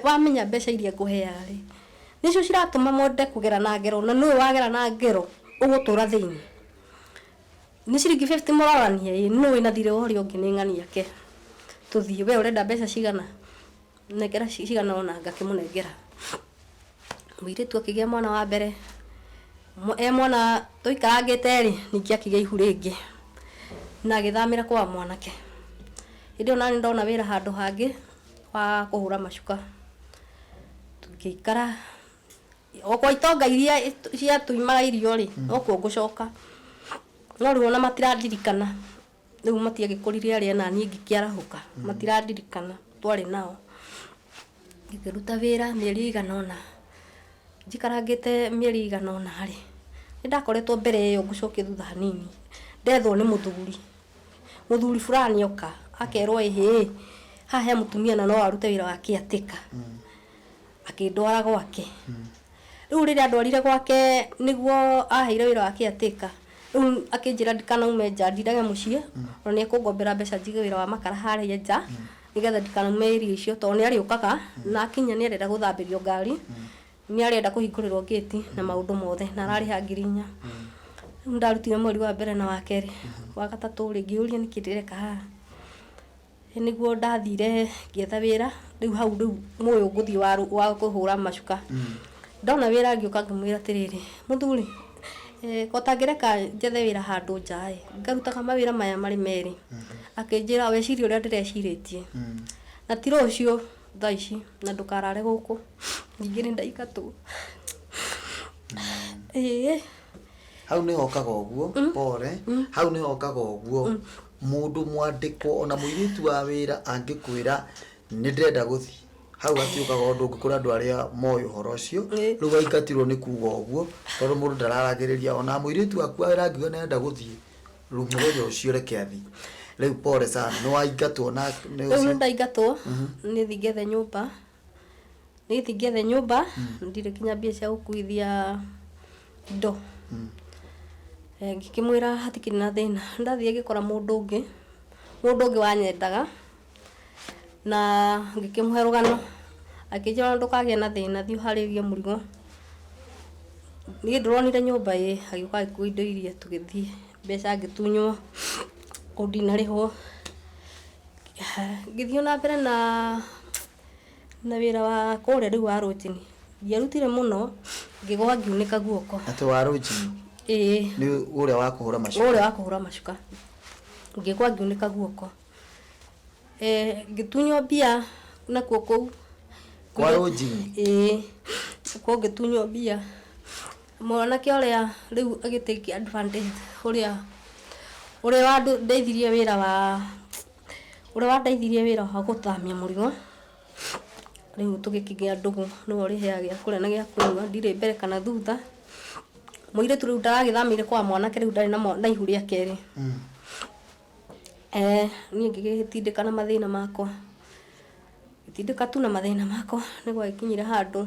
wamenya mbeca iria ngũheaga rĩ nĩcio ciratũma mwende kũgera na ngero na nũũ wagera na ngero ũgũtũra thĩinĩ nĩ ciringi bĩbute mũrorania ĩ nũũ wĩna thirĩ wa ũrĩa ũngĩ nĩ ng'ania ke tũthiĩ we ũrenda mbeca cigana. nengera ci- cigana ũna ngakĩmũnengera mũirĩtu akĩgĩa mwana wa mbere Mwa- e mwana tũikarangĩte rĩ ningĩ akĩgĩa ihu rĩngĩ na agĩthamĩra kwa mwanake hĩndĩ ĩyo nani ndona wĩra handũ hangĩ wa kũhũra macuka tũgĩikara o kwa itonga iria ciatũimaga irio rĩ nokuo ngũcoka no rĩu ona matirandirikana rĩu matiagĩkũrire arĩa naniĩ ngĩkĩarahũka matirandirikana twarĩ nao ngĩkĩruta wĩra mĩeri ĩigana ũna njikarangĩte mĩeri ĩigana ũna rĩ nĩ ndakoretwo mbere ĩyo ngũcokia thutha hanini ndethwo nĩ mũthuri mũthuri fulani oka akerwo ĩhĩ haha he mũtumia na no arute wĩra wa caretaker akĩndwara gwake rĩu rĩrĩa andwarire gwake nĩguo aheire wĩra wa kĩatĩka rĩu akĩnjĩra ndikanaume nja ndindage mũciĩ ona nĩ ekũngombera mbeca njige wĩra wa makara harĩa nja nĩgetha ndikanaume area icio tondũ nĩ arĩũkaga na akinya nĩ arenda gũthambĩrio ngari nĩ arenda kũhingũrĩrwo gate na maũndũ mothe na ararĩha ngiri inya rĩu ndarutire mweri wa mbere na wa kerĩ wa gatatũ rĩ ngĩyũria nĩkĩ ndĩreka haha Ĩĩ nĩguo ndathire ngĩetha wĩra rĩu hau rĩu mũĩ ngũthiĩ wa wa kũhũra macuka ndona wĩra ngĩũka ngĩmwĩra atĩrĩrĩ mũthuri eh, o tangĩreka njethe wĩra handũ nja ĩ ngarutaga mawĩra maya marĩ merĩ akĩnjĩra wecirie ũrĩa ndĩrecirĩtie na ti rũciũ thaa ici na ndũkarare gũkũ ningĩ nĩ ndaingatwo ĩĩ hau nĩho okaga ũguo pore hau nĩho okaga ũguo Mũndũ mwandĩkwo ona mũirĩtu wa wĩra angĩkwĩra nĩ ndĩrenda gũthiĩ hau hatiũkaga ũndũ ũngĩ kũrĩ andũ arĩa moĩ ũhoro ũcio Ĩ. rĩu aingatirwo nĩ kuga ũguo tondũ mũndũ ndararagĩrĩria ona mũirĩtu waku wa wĩra angiuga nĩ arenda gũthiĩ rĩu mũthenya ũcio reke athiĩ rĩu pole sana nĩ waingatwo na nĩ rĩu nĩ ũcio ndaingatwo nĩ thiĩ ngethe nyũmba Niĩ ndingĩethe nyũmba ndirĩ nginya mbia cia gũkuithia indo. Ngĩkĩmwĩra hatikĩrĩ na thĩna. Nĩ ndathiaga ngĩkora mũndũ ũngĩ, mũndũ ũngĩ wanyendaga na ngĩkĩmũhe rũgano. Akĩnjĩra ona ndũkagĩe na thĩna thiĩ ũharĩrie mũrigo. Niĩ ndũronire nyũmba ĩĩ, agĩũka agĩkua indo iria tũgĩthiĩ. Mbeca ngĩtunywo, kũu ndinarĩhwo. Ngĩthiĩ o na mbere na na wĩra wa kũrĩa rĩu wa rũnjini, ndiarutire mũno, ngĩgwa ngiunĩka guoko. Atĩ wa rũnjini? Ĩĩ. Nĩ ũrĩa wa kũhũra macuka? Ũrĩa wa kũhũra macuka. Ngĩgwa ngiunĩka guoko. Ngĩtunywo mbia nakuo kũu. Kwa rũnjini? Ĩĩ. Kuo ngĩtunywo mbia. Mwanake ũrĩa rĩu agĩ take advantage ũrĩa ũrĩa wandeithirie wĩra wa ũrĩa wandeithirie wĩra wa gũthamia mũrigo rĩu tũgĩkinyia ndũgũ nĩwe ũrĩheaga gĩa kũrĩa na gĩa kũnyua ndirĩ mbere kana thutha mũirĩtu rĩu ndaragĩthamĩire kwa mwanake rĩu ndarĩ na mwa- na ihu rĩa kerĩ eh niĩ ngĩgĩtindĩka na mathĩna makwa Ngĩtindĩka tu na mathĩna makwa, nĩ gwagĩkinyire handũ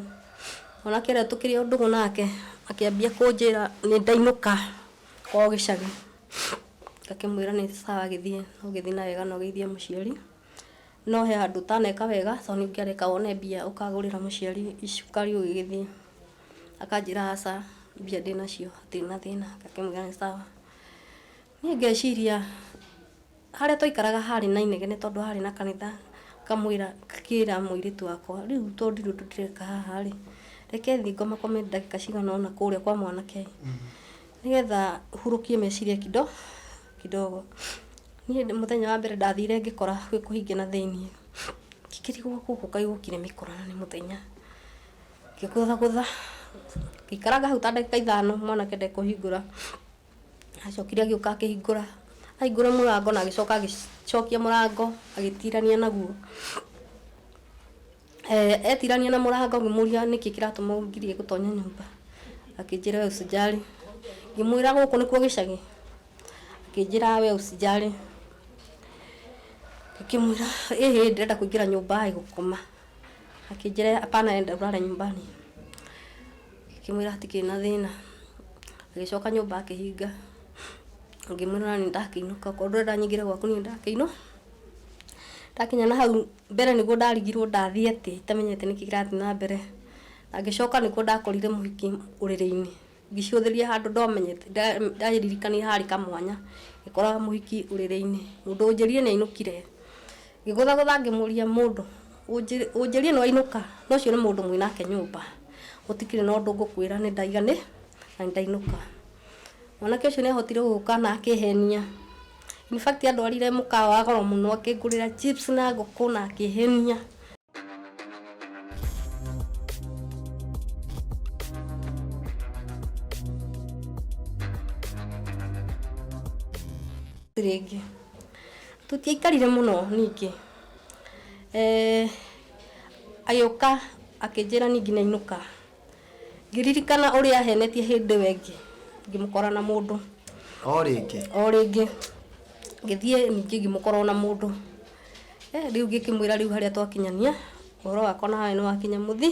mwanake ũrĩa tũkĩrĩ o ndũgũ nake akĩambia kũnjĩra nĩ ndainũka kwao gĩcagi. Ngakĩmwĩra nĩ sawa gĩthiĩ, no ũgĩthiĩ na wega na ũgeithie mũciari, no he handũ ũtaneka wega tondũ nĩ ũngĩareka wone mbia ũkagũrĩra mũciari cukari ũgĩgĩthiĩ. Akanjĩra aca mbia ndĩnacio hatirĩ na thĩna, ngakĩmwĩra nĩ sawa. Niĩ ngeciria... Harĩa twaikaraga haarĩ na inegene tondũ haarĩ na kanitha, ngamwĩra ngakĩĩra mũirĩtu wakwa, rĩu to ndirĩ ũndũ ndĩreka haha-rĩ, reke thiĩ ngomakome ndagĩka cigana ũna kũũrĩa kwa mwanake, nĩgetha hurũkie meciria kido kidogo. Niĩ ndĩ mũthenya wa mbere ndathire ngĩkora gwĩ kũhinge na thĩiniĩ, ngĩkĩrigwo gũkũ kaĩ gũkĩrĩ mĩkora na nĩ mũthenya, ngĩgũthagũtha, ngĩikaranga hau ta ndagĩka ithano mwanake ndekũhingũra. Acokire agĩũka akĩhingũra, ahingũra mũrango na agĩcoka agĩcokia mũrango agĩtirania naguo. Eh, etirania na mũrango ngĩmũria nĩkĩ kĩratũma ũngirie gũtonya nyũmba, akĩnjĩra we ũsijali. Ngĩmwĩra gũkũ nĩkuo gĩcagi, akĩnjĩra we ũsijali. Ngĩkĩmwĩra ĩ hĩ ndĩrenda kũingĩra nyũmba ĩ gũkoma, akĩnjĩra hapana enda ũrare nyumbani. ngĩmwĩra hatikĩrĩ na thĩna agĩcoka nyũmba akĩhinga ngĩmwĩra ona nĩ ndakĩinũka korwo ndũrenda nyingĩre gwaku niĩ ndakĩinũka ndakinya na hau mbere nĩguo ndarigirwo ndathiĩ atĩ itamenyete nĩkĩ kĩrathiĩ na mbere na ngĩcoka nĩkuo ndakorire mũhiki ũrĩrĩ-inĩ ngĩcũthĩrĩria handũ ndomenyete nda- ndaririkania harĩ kamwanya ngĩkora mũhiki ũrĩrĩ-inĩ mũndũ ũnjĩrire nĩ ainũkire Ngĩgũthagũtha ngĩmũũria, Mũndũ, ũnjĩrie nĩ wainũka? Na ũcio nĩ mũndũ mwĩ nake nyũmba. Gũtikĩrĩ na ũndũ ngũkwĩra, nĩ ndaiga nĩ, na nĩ ndainũka. Mwanake ũcio nĩ aahotire gũka na akĩĩhenia. In fact andwarire mũkawa wa goro mũno akĩngũrĩra chips na ngũkũ na akĩĩhenia. Rĩngĩ. Tũtiaikarire mũno ningĩ, eh, agĩũka akĩnjĩra ningĩ nainũka, ngĩririkana ũrĩa ahenetie hĩndĩ ĩyo ĩngĩ ngĩmũkora na mũndũ, O rĩngĩ. o rĩngĩ ngĩthiĩ ningĩ ngĩmũkora ona mũndũ, eh, rĩu ngĩkĩmwĩra rĩu harĩa twakinyania ũhoro wakwa nawe nĩwakinya mũthia.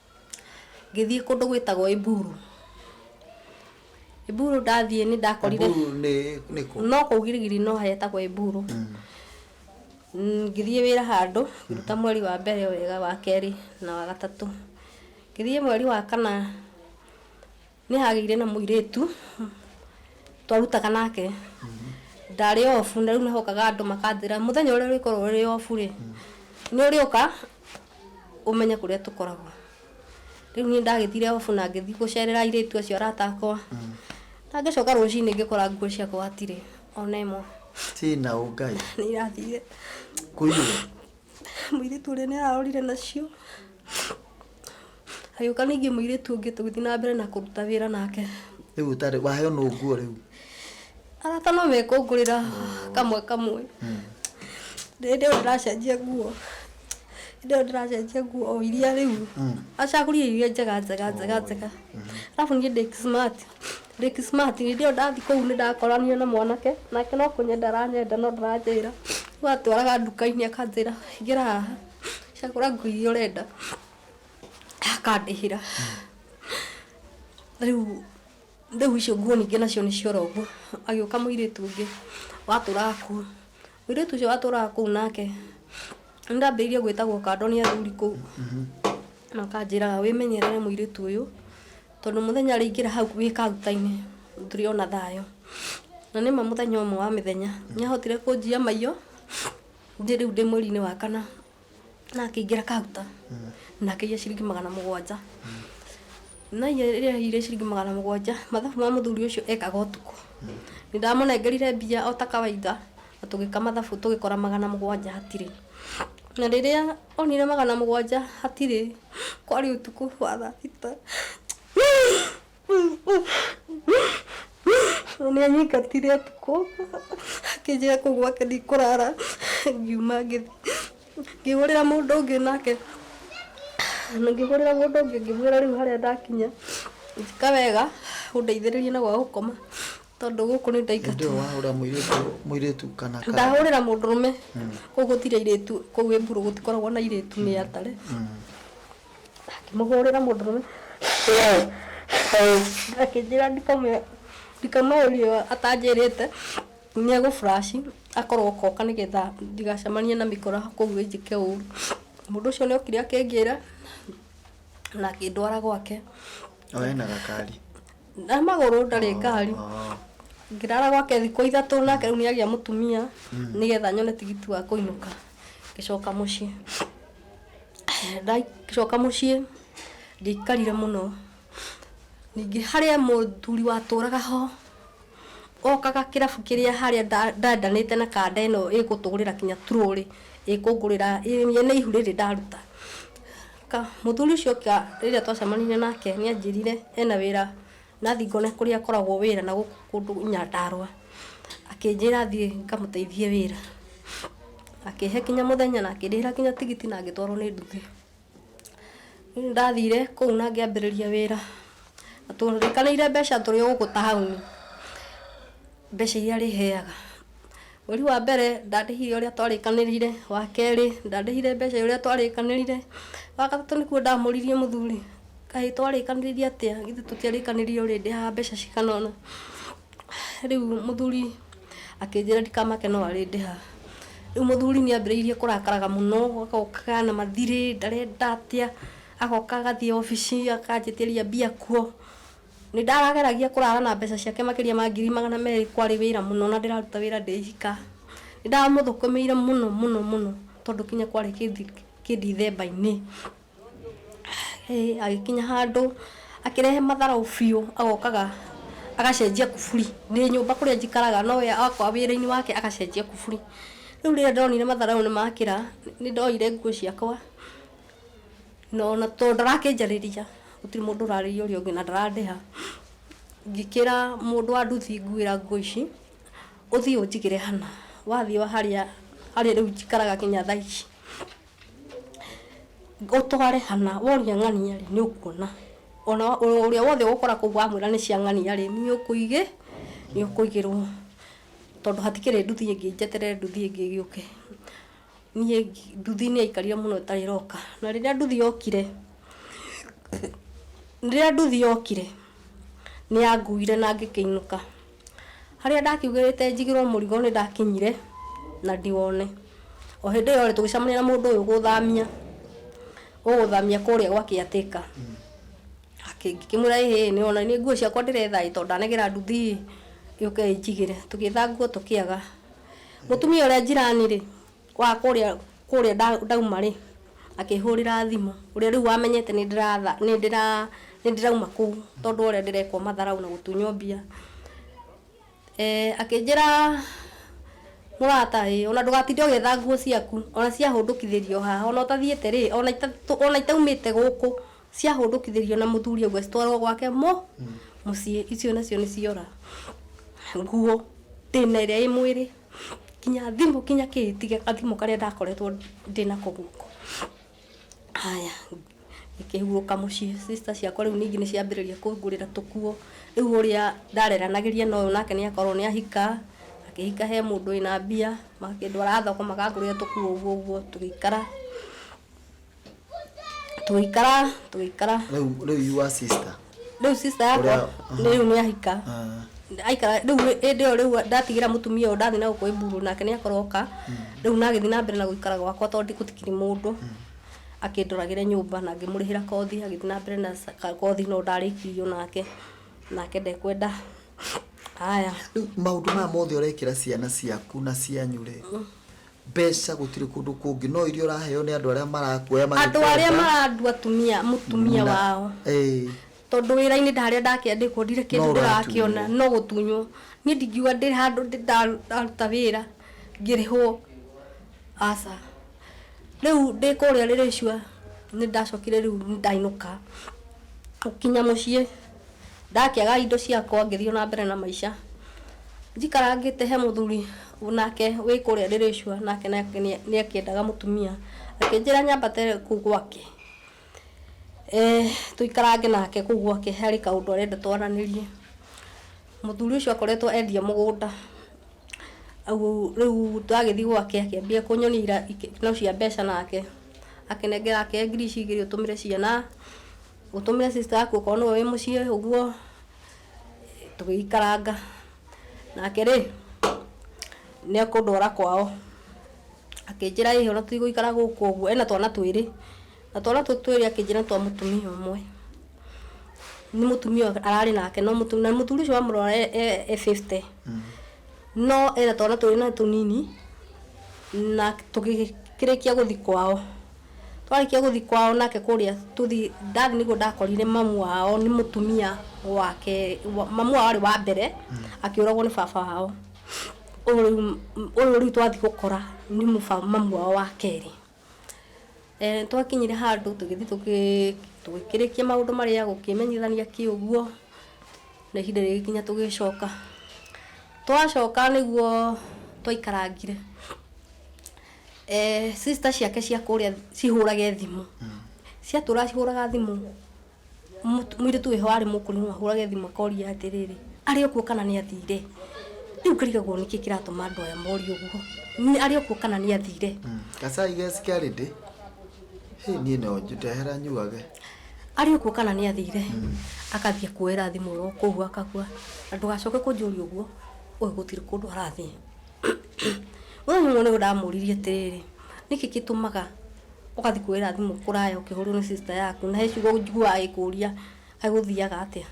ngĩthiĩ kũndũ gwĩtagwo Iburu. Iburu ndathiĩ nĩ ndakorire Mburu nĩ nĩ kũ? no kũu girigiri no hetagwo Iburu. Mm, Ngĩthiĩ wĩra handũ ngĩruta mweri wa mbere wega wa kerĩ na wa gatatũ. Ngĩthiĩ mweri wa kana Nĩ hagĩire na mũirĩtu twarutaga nake ndarĩ obu na rĩu nĩhokaga andũ makanjĩra mũthenya ũrĩa ũrĩkorwo ũrĩ obu rĩ nĩ ũrĩũka ũmenye kũrĩa tũkoragwo rĩu niĩ ndagĩthire obu na ngĩthiĩ gũcerera airĩtu acio arata akwa na ngĩcoka rũcinĩ ngĩkora nguo ciakwa hatirĩ ona ĩmwe Tina ũngai. nĩ irathire Kũiywo. mũirĩtu ũrĩa nĩ ararorire nacio Hagĩũka ningĩ mũirĩtu ũngĩ tũgĩthiĩ na mbere na kũruta wĩra nake. Rĩu ũtarĩ waheo no nguo rĩu. Arata no mekũngũrĩra kamwe kamwe. Hmm. Hĩndĩ ĩyo ndĩracenjia nguo hĩndĩ ĩyo ndĩracenjia nguo o iria rĩu hmm. acagũrire iria njega njega njega njega hmm. arabu niĩ ndĩ smart ndĩ smart hĩndĩ ĩyo ndathiĩ kũu nĩ ndakorania na mwanake nake no kũnyenda aranyenda no ndaranjĩra rĩu atwaraga nduka-inĩ akanjĩra ingĩra haha cagũra nguo iria ũrenda akandĩhĩra rĩu rĩu icio nguo ningĩ nacio nĩ ciora ũguo agĩũka mũirĩtu ũngĩ watũraga kuo mũirĩtu ũcio watũraga kũu nake nĩ ndambĩrĩirie gwĩtagwo kando nĩ athuri kũu na akanjĩra wĩmenyerere mũirĩtu ũyũ tondũ mũthenya arĩingĩra hau wĩ kaguta-inĩ ndũrĩ ona thayũ na nĩma mũthenya ũmwe wa mĩthenya nĩ ahotire kũnjia maiyo Niĩ rĩu ndĩ mweri-inĩ wa kana na akĩingĩra kauta na akĩiya ciringi magana mũgwanja na iye rĩrĩa aiyire ciringi magana mũgwanja mathabu ma mũthuri ũcio ekaga ũtukũ nĩ ndamũnengerire mbia o ta kawaida na tũgĩka mathabu tũgĩkora magana mũgwanja hatirĩ na rĩrĩa onire magana mũgwanja hatirĩ kwarĩ ũtukũ wa thaa thita tondũ nĩ anyingatire ũtukũ akĩnjĩra kũu gwake ndikũrara ngiuma ngĩthiĩ ngĩhũrĩra mũndũ ũngĩ nake na ngĩhũrĩra mũndũ ũngĩ ngĩmwĩra rĩu harĩa ndakinya njĩka wega ũndeithĩrĩrie na gwa gũkoma tondũ gũkũ nĩ ndaingatwo ndio wahura muiritu muiritu kana kana ndahũrĩra mũndũrũme kũu gũtirĩ airĩtu kũu ĩmburu gũtikoragwo na airĩtu nĩ atare Akĩmũhũrĩra mũndũrũme akĩnjĩra ndikamũrie atanjĩrĩte nĩ egũ flash akorwo oka nĩ getha ndigacemanie na mĩkora kũu ĩnjĩke ũru. Mũndũ ũcio nĩ okire akĩnjĩra na akĩndwara gwake. O ena gakari? Na magũrũ ndarĩ ngari. Ngĩrara gwake thikũ ithatũ nake rĩu nĩ agĩa mũtumia nĩ getha nyone tigiti wa kũinũka ngĩcoka mũciĩ. Ndacoka mũciĩ ndiaikarire mũno, ningĩ harĩ mũthuri watũraga ho, okaga kĩrabu kĩrĩa harĩa ndendanĩte na kanda ĩno ĩgũtũgũrĩra nginya trolley, ĩkũngũrĩra ĩrĩa nĩ ihu rĩrĩ ndaruta. Mũthuri ũcio oka rĩrĩa twacemanirie nake nĩ anjĩrire ena wĩra. Nathiĩ ngona kũrĩa akoragwo wĩra na gũkũ kũndũ Nyandarũa. Akĩnjĩra thiĩ ngamũteithie wĩra. Akĩhe kinya mũthenya na akĩndĩhĩra kinya tigiti na ngĩtwarwo nĩ nduthi. Rĩu nĩ ndathire kũu na ngĩambĩrĩria wĩra. Na twarĩkanĩire mbeca tũrĩ o gũkũ taũni, mbeca iria arĩheaga. Mweri wa mbere ndarĩhire ũrĩa twarĩkanĩrĩire, wa kerĩ ndarĩhire mbeca ũrĩa twarĩkanĩrĩire, wa gatatũ nĩkuo ndamũririe mũthuri, kaĩ twarĩkanĩrĩire atĩa, githĩ tũtiarĩkanĩrĩire ũrĩndĩhaga mbeca cigana ũna? Rĩu mũthuri akĩnjĩra ndikamake no arĩndĩha. Rĩu mũthuri nĩ ambĩrĩirie kũrakaraga mũno, agokaga na mathirĩ, ndarenda atĩa, agoka agathiĩ obici akanjĩtĩria mbia kuo. Nĩ ndarageragia kũrara na mbeca ciake makĩria ma ngiri magana merĩ kwarĩ wĩra mũno na ndĩraruta wĩra ndĩ ika. Nĩ ndamũthũkũmĩire mũno mũno mũno tondũ kinya kwarĩ kĩndithemba-inĩ. Agĩkinya handũ akĩrehe matharaũ biũ agokaga agacenjia kuburi. Ndĩ nyũmba kũrĩa njikaraga no we oka wĩra-inĩ wake agacenjia kuburi. Rĩu rĩrĩa ndonire matharaũ nĩ makĩra nĩ ndoire nguo ciakwa... Na ona tondũ ndarakĩnjarĩria, gũtirĩ mũndũ ũrarĩria ũrĩa ũngĩ na ndarandĩha, ngĩkĩra mũndũ wa nduthi nguĩra nguo ici, ũthiĩ ũnjigĩre hana, wathiĩ harĩa harĩa rĩu njikaraga nginya thaa ici, ũtware hana, woria ng'ania rĩ, nĩ ũkuona, ona ũrĩa wothe ũgũkora kũu wamwĩra nĩ cia ng'ania rĩ, nĩ ũkũigĩ, nĩ ũkũigĩrwo, tondũ hatikĩrĩ nduthi ĩngĩ njeterere nduthi ĩngĩ ĩgĩũke. Niĩ nduthi nĩ yaikarire mũno ĩtarĩ ĩroka, na rĩrĩa nduthi yokire, rĩrĩa nduthi yokire nĩ yanguire na ngĩkĩinũka. Harĩa ndakiugĩrĩte njigĩrwo mũrigo nĩ ndakinyire na ndiwone. O hĩndĩ ĩyo rĩ tũgĩcemania na mũndũ ũyũ ũgũthamia, ũgũthamia kũrĩa gwa caretaker. Ngĩkĩmwĩra ĩ hĩĩ nĩ wona nĩ nguo ciakwa ndĩretha ĩ, tondũ ndanagĩra nduthi ĩ, yũke ĩnjigĩre. Tũgĩetha nguo tũkĩaga. Mũtumia ũrĩa njirani-rĩ, wa kũrĩa kũrĩa ndauma-rĩ, akĩhũrĩra thimũ, ũrĩa rĩu wamenyete nĩndĩratha nĩndĩra nĩndĩrauma kũu tondũ wa ũrĩa ndĩrekwo matharaũ na gũtunywo mbia, akĩnjĩra mũrata ĩ, ona ndũgatinde ũgĩetha nguo ciaku, ona ciahũndũkithĩrio haha, ona ũtathiĩte-rĩ, ona ita ona itaumĩte gũkũ. ciahũndũkithĩrio na mũthuri ũguo citwarwo gwake mũ mũciĩ icio nacio nĩ ciora nguo ndĩna ĩrĩa ĩ mwĩrĩ kinya thimũ kinya kĩĩ tiga gathimũ karĩa ndakoretwo ndĩnako guoko haya ngĩkĩhurũka mũciĩ sister ciakwa rĩu ningĩ nĩ ciambĩrĩria kũngũrĩra tũkuo rĩu ũrĩa ndareranagĩria na ũyũ nake nĩ akorwo nĩ ahika akĩhika he mũndũ wĩna mbia makĩndwara thoko makangũrĩra tũkuo ũguo ũguo tũgĩikara tũgĩikara tũgĩikara rĩu rĩu you are sister rĩu sister yakwa Ũrĩa- nĩ rĩu nĩ ahika Ah, aikara rĩu hĩndĩ ĩyo rĩu ndatigĩra mũtumia ũyũ ndathi na gũkũ iburu nake nĩ akoroka rĩu nagĩthi na mbere na gũikara gwakwa tondũ gũtikiri mũndũ akĩndoragĩre nyũmba na ngĩmũrĩhĩra kothi agĩthi na mbere na sa- ka- kothi no ndarĩkirio nake nake ndekwenda haya rĩu maũndũ maya mothe ũrekĩra ciana ciaku na cianyu rĩ mbeca gũtirĩ kũndũ kũngĩ no iria ũraheo nĩ andũ arĩa marakuoya andũ arĩa magĩkwenda. marandua atumia mũtumia Na- wao Ĩĩ. tondũ wĩra-inĩ ndarĩa ndakĩandĩkwo ndirĩ No kĩndũ ũratunywo. ndĩrakĩona no gũtunywo niĩ ndingiuga ndĩ handũ ndĩ- nda- ndaruta wĩra ngĩrĩhwo aca rĩu ndĩ kũrĩa rĩrĩcua nĩ ndacokire rĩu nĩ ndainũka gũkinya mũciĩ ndakĩaga indo ciakwa ngĩthiĩ na mbere na maica. Njikarangĩte he mũthuri nake wĩ kũrĩa Ndĩrĩcua nake nĩakĩendaga mũtumia, akĩnjĩra nyambate kũu gwake tũikarange nake kũu gwake harĩ kaũndũ arenda twaranĩrie. Mũthuri ũcio akoretwo endia mũgũnda, rĩu ndagĩthiĩ gwake akĩambia kũnyonia ikeno cia mbeca nake, akĩnengera ake ngiri ici igĩrĩ ũtũmĩre ciana. Ũtũmĩre sister yaku okorwo nĩwe wĩ mũciĩ ũguo, tũgĩikaranga. Nake rĩ, nĩ ekũndwara kwao. Akĩnjĩra ĩ ona tũtigũikara gũkũ ũguo, ena twana twĩrĩ, na twana tũu twĩrĩ akĩnjĩra nĩ twa mũtumia ũmwe. Nĩ mũtumia ararĩ nake no mũtumia, na mũthuri ũcio wamũrora e fifty. No ena twana twĩrĩ na nĩ tũnini, na tũgĩkĩrĩkia gũthiĩ kwao. twarĩkia gũthiĩ kwao nake kũrĩa tũthiĩ dad nĩguo ndakorire mamu wao nĩ mũtumia wake wa- mamu wao arĩ wa mbere akĩũragwo nĩ baba wao ũyũ rĩu ũyũ rĩu twathiĩ gũkora nĩ mũba- mamu wao wa kerĩ Eh, twakinyire handũ tũgĩthiĩ tũgĩ- tũgĩkĩrĩkia maũndũ marĩa gũkĩmenyithania kĩ ũguo na ihinda rĩgĩkinya tũgĩcoka twacoka nĩguo twaikarangire eh, sister ciake cia kũrĩa cihũrage thimũ ciatũra cihũraga thimũ mũt- mũirĩtu wĩho arĩ mũkũrũ no ahũrage thimũ akoria atĩrĩrĩ arĩ okuo kana nĩ athire rĩu karigagwo nĩkĩ kĩratũma andũ aya morie ũguo Nĩ- arĩ okuo kana nĩ athire gacai geci karĩ ndĩ hĩ niĩ no njũtehera nyuage arĩ okuo kana nĩ athire akathiĩ kuoera thimũ ĩyo kũu akakua na ndũgacoke kũnjũria ũguo ũyũ gũtirĩ kũndũ arathiĩ Rĩu ũmwe nĩwe ndamũririe atĩrĩrĩ, nĩkĩ gĩtũmaga ũgathiĩ kuoera thimũ kũraya ũkĩhũrĩrwo nĩ sister yaku na he ciugo njiguaga agĩkũria agũthiaga atĩa?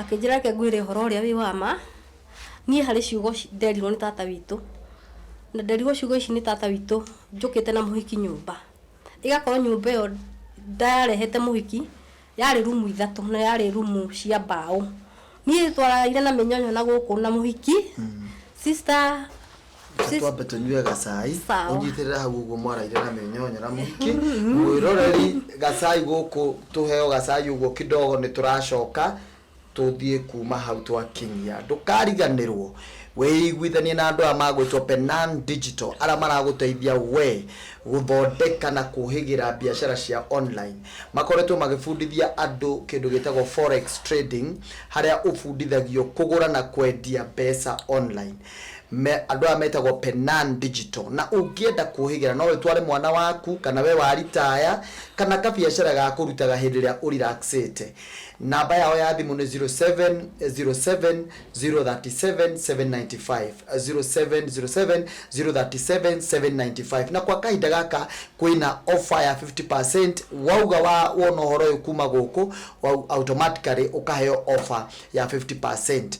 Akĩnjĩra reke ngwĩre ũhoro ũrĩa wĩ wa ma, niĩ harĩ ciugo nderirwo nĩ tata witũ, na nderirwo ciugo ici nĩ tata witũ njũkĩte na mũhiki nyũmba, ĩgakorwo nyũmba ĩyo ndarehete mũhiki Yarĩ rumu ithatũ na yarĩ rumu cia mbaũ. Niĩ twararaire na mĩnyonyo na gũkũ na mũhiki sister Reke sis- twambe tũnyue gacai Sawa. ũnyitĩrĩre hau ũguo mwaraire na mĩnyonyo na mũhiki mwĩroreri gacai gũkũ tũheo gacai ũguo kidogo nĩ tũracoka Tũthiĩ kuuma hau twakinyia. Ndũkariganĩrwo. Wĩiguithanie na andũ aya magwĩtwo Penan Digital arĩa maragũteithia wee gũthondeka na kũhĩgĩra biacara cia online. Makoretwo magĩbundithia andũ kĩndũ gĩtagwo Forex Trading harĩa ũbundithagio kũgũra na kwendia mbeca online. Me, andũ aya metagwo Penan Digital. Na ũngĩenda kũhĩgĩra no ũtware mwana waku kana wee waritaya kana kabiacara ga kũrutaga hĩndĩ ĩrĩa ũ relax ĩte. namba yao ya thimũ nĩ 0707037795 na kwa kahinda gaka kwĩna offer ya 50% wauga wa wona ũhoro ũyũ kuma gũkũ wau- automatically ũkaheo offer ya 50%